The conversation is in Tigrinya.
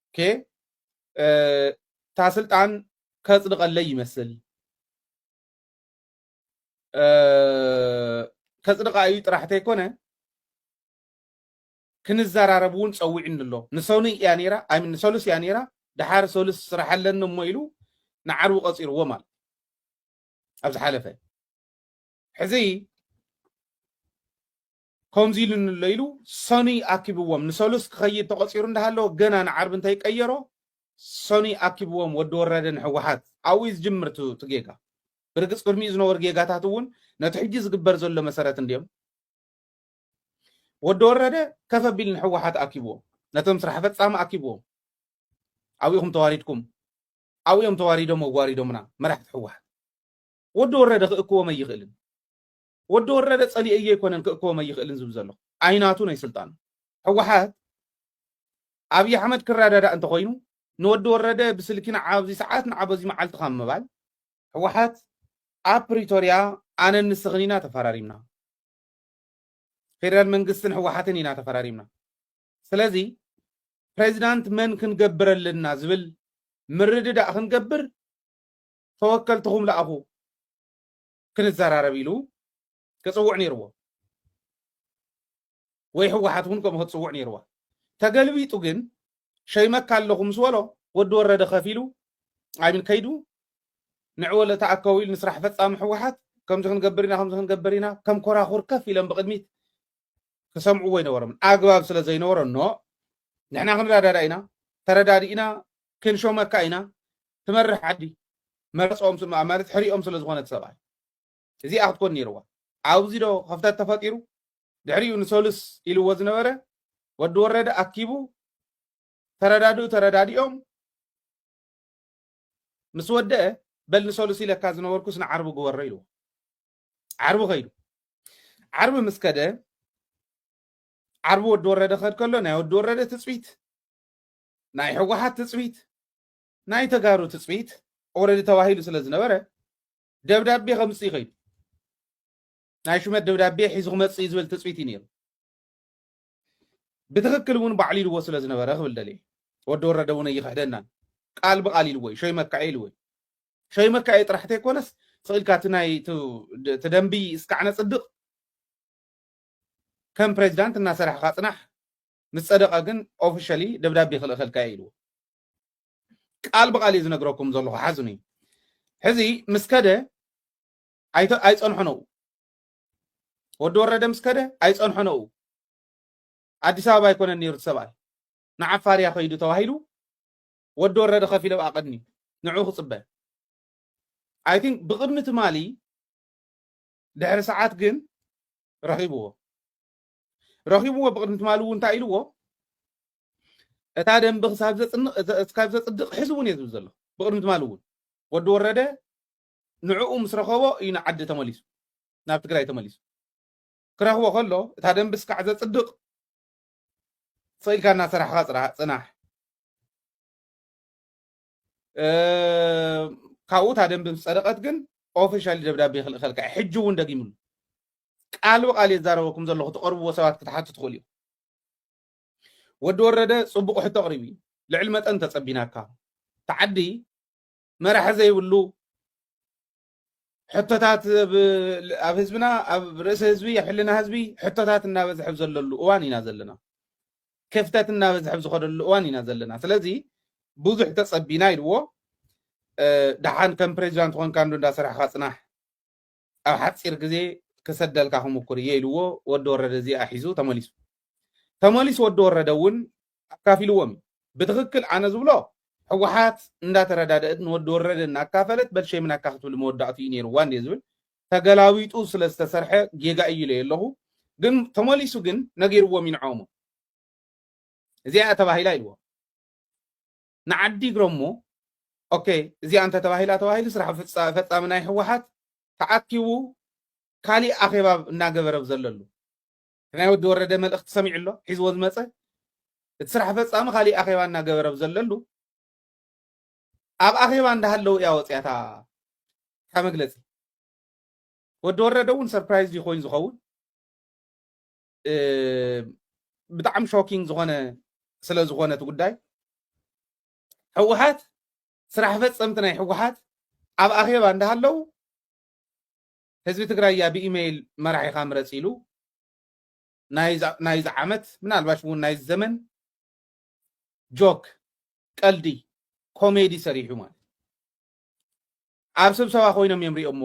ኦኬ እታ ስልጣን ከጽድቐለይ ይመስል ከጽድቓ እዩ ጥራሕ ተይኮነ ክንዘራረብ እውን ፀዊዕኒ ኣሎ ንሰኑ እያ ነይራ ኣይ ንሰሉስ እያ ነይራ ድሓር ሰሉስ ስራሕ ኣለኒ እሞ ኢሉ ንዓርቡ ቀፂርዎ ማለት ኣብ ዝሓለፈ ሕዚ ከምዚ ኢሉ ንሎ ኢሉ ሰኑይ ኣኪብዎም ንሰሉስ ክኸይድ ተቖጺሩ እንዳሃለወ ገና ንዓርቢ እንታይ ቀየሮ ሰኑይ ኣኪብዎም ወዲ ወረደ ንሕወሓት ኣብኡ እዩ ዝጅምር እቲ ጌጋ ብርግጽ ቅድሚኡ ዝነበሩ ጌጋታት እውን ነቲ ሕጂ ዝግበር ዘሎ መሰረት እንድዮም ወዲ ወረደ ከፍ ኣቢል ንሕወሓት ኣኪብዎም ነቶም ስራሕ ፈጻሚ ኣኪብዎም ኣብኢኹም ተዋሪድኩም ኣብኦም ተዋሪዶም ኣዋሪዶምና መራሕቲ ሕወሓት ወዲ ወረደ ክእክቦም ኣይኽእልን ወዲ ወረደ ጸሊኤዮ ኣይኮነን ክእከቦም ኣይኽእልን ዝብል ዘለኹ። ኣይናቱን ኣይስልጣኑን። ሕወሓት ኣብይ ኣሕመድ ክረዳዳእ እንተኾይኑ ንወዲ ወረደ ብስልኪ ንዓ ኣብዚ ሰዓት ንዓ በዚ መዓልቲ ካብ ምባል ሕወሓት ኣብ ፕሪቶርያ ኣነን ንስኽን ኢና ተፈራሪምና። ፌደራል መንግስትን ሕወሓትን ኢና ተፈራሪምና። ስለዚ ፕሬዚዳንት መን ክንገብር ኣለና ዝብል ምርድዳእ ክንገብር ተወከልትኹም ለኣኹ። ክንዘራረብ ኢሉ ክጽውዕ ነይርዎ ወይ ህወሓት እውን ከምኡ ክትጽውዕ ነይርዋ ተገልቢጡ ግን ሸይመካ ኣለኹ ምስ በሎ ወዲ ወረደ ከፊሉ ኣይምን ከይዱ ንዕወ ለተኣከቡ ኢሉ ንስራሕ ፈጻሚ ህወሓት ከምዚ ክንገብር ኢና ከምዚ ክንገብር ኢና ከም ኮራኹር ከፍ ኢለን ብቅድሚት ክሰምዕዎ ይነበሮም ኣግባብ ስለ ዘይነበሮ ኖ ንሕና ክንረዳዳ ኢና ተረዳዲእና ክንሾመካ ኢና ትመርሕ ዓዲ መርፅኦም ስማ ማለት ሕሪኦም ስለ ዝኾነ ሰብኣይ እዚኣ ክትኮን ነይርዋ ኣብዚ ዶ ከፍተት ተፈጢሩ ድሕሪኡ ንሰሉስ ኢልዎ ዝነበረ ወዲ ወረደ ኣኪቡ ተረዳድኡ ተረዳዲኦም ምስ ወደአ በል ንሰሉስ ኢለካ ዝነበርኩስ ንዓርቢ ግበሮ ኢልዎ ዓርቢ ከይዱ ዓርቢ ምስ ከደ ዓርቢ ወዲ ወረደ ከድ ከሎ ናይ ወዲ ወረደ ትፅቢት ናይ ሕወሓት ትፅቢት ናይ ተጋሩ ትፅቢት ኦረዲ ተባሂሉ ስለ ዝነበረ ደብዳቤ ከምፅእ ይኸይዱ ናይ ሹመት ደብዳቤ ሒዙ ክመፅእ ዝብል ትፅቢት እዩ ነይሩ ብትክክል እውን ባዕሉ ኢልዎ ስለ ዝነበረ ክብል ደልየ ወዲ ወረደ እውን ኣይኽሕደናን ቃል ብቃል ኢልዎ እዩ ሸይመካ ኢልዎ እዩ ሸይመካ እየ ጥራሕ ተይኮነስ ስኢልካ እቲ ናይ እቲ ደንቢ እስካዕ ነፅድቕ ከም ፕሬዚዳንት እናሰራሕካ ፅናሕ ምስ ጸደቀ ግን ኦፍሸሊ ደብዳቤ ክልእኸልካ እየ ኢልዎ ቃል ብቃል እየ ዝነግረኩም ዘለኹ ሓዝኑ እዩ ሕዚ ምስ ከደ ኣይጸንሖን ኣብኡ ወዲ ወረደ ምስ ከደ ኣይጸንሖን ኣብኡ ኣዲስ ኣበባ ኣይኮነን ነይሩ ሰብኣይ ንዓፋር እያ ከይዱ ተባሂሉ ወዲ ወረደ ከፍ ኢለ ብኣ ቅድሚ ንዑ ክጽበ ኣይ ቲንክ ብቅድሚ ትማሊ ድሕሪ ሰዓት ግን ረኺብዎ ረኺብዎ ብቕድሚ ትማሊ እውን እንታይ ኢልዎ እታ ደንቢ ክሳብ ዘፅድቕ ሕዚ እውን እየ ዝብል ዘሎ ብቕድሚ ትማሊ እውን ወዲ ወረደ ንዕኡ ምስ ረኸቦ እዩ ንዓዲ ተመሊሱ ናብ ትግራይ ተመሊሱ ክረኽቦ ከሎ እታ ደንቢ እስካዕ ዘፅድቕ ስኢልካ እናሰራሕኻ ፅናሕ ካብኡ እታ ደንቢ ምስ ጸደቐት ግን ኦፊሻሊ ደብዳቤ ክልእኸልካ እዩ ሕጂ እውን ደጊምሉ ቃል ብቃል የዛረበኩም ዘለኹ ትቐርብዎ ሰባት ክትሓቱ ትኽእሉ እዩ ወዲ ወረደ ጽቡቕ ሕቶ ኣቕሪቡ እዩ ልዕሊ መጠን ተጸቢናካ ተዓዲ መራሒ ዘይብሉ ሕቶታት ኣብ ህዝብና ኣብ ርእሲ ህዝቢ ኣብ ሕልና ህዝቢ ሕቶታት እናበዝሐብ ዘለሉ እዋን ኢና ዘለና ክፍተት እናበዝሐብ ዝኸደሉ እዋን ኢና ዘለና ስለዚ ብዙሕ ተጸቢና ኢልዎ ደሓን ከም ፕሬዚዳንት ኮንካ እንዶ እንዳሰራሕካ ፅናሕ ኣብ ሓፂር ግዜ ክሰደልካ ክምኩር እየ ኢልዎ ወዲ ወረደ እዚኣ ሒዙ ተመሊሱ ተመሊሱ ወዲ ወረደ እውን ኣካፊልዎም እዩ ብትክክል ኣነ ዝብሎ ሕዋሓት እንዳተረዳደእት ንወዲ ወረደ እናካፈለት በል ሸይምናካ ክትብል መወዳእትኡ እዩ ነይርዋ እንድየ ዝብል ተገላቢጡ ስለ ዝተሰርሐ ጌጋ እዩ ኢለዮ ኣለኩ ግን ተመሊሱ ግን ነጊርዎም እዩ ንዖኦም እዚኣ እያ ተባሂላ ኢልዎም ንዓዲ ግረሞ ኦኬ እዚኣ እንተ ተባሂላ ተባሂሉ ስራሕ ፈፃሚ ናይ ሕወሓት ተኣኪቡ ካሊእ ኣኼባ እናገበረ ዘለሉ ናይ ወዲ ወረደ መልእኽቲ ሰሚዑ ኣሎ ሒዝዎ ዝመጸ እቲ ስራሕ ፈጻሚ ካሊእ ኣኼባ እናገበረ ኣብ ዘለሉ ኣብ ኣኼባ እንዳሃለው እያ ወጽያ እታ እታ መግለጺ ወዲ ወረደ እውን ሰርፕራይዝ እዩ ኮይኑ ዝኸውን ብጣዕሚ ሾኪንግ ዝኾነ ስለ ዝኾነ እቲ ጉዳይ ህወሓት ስራሕ ፈፀምቲ ናይ ህወሓት ኣብ ኣኼባ እንዳሃለው ህዝቢ ትግራይ እያ ብኢመይል መራሒኻ ምረፅ ኢሉ ናይዚ ዓመት ምናልባሽ እውን ናይዚ ዘመን ጆክ ቀልዲ ኮሜዲ ሰሪሑ ማለት ኣብ ስብሰባ ኮይኖም እዮም ሪኦምዎ።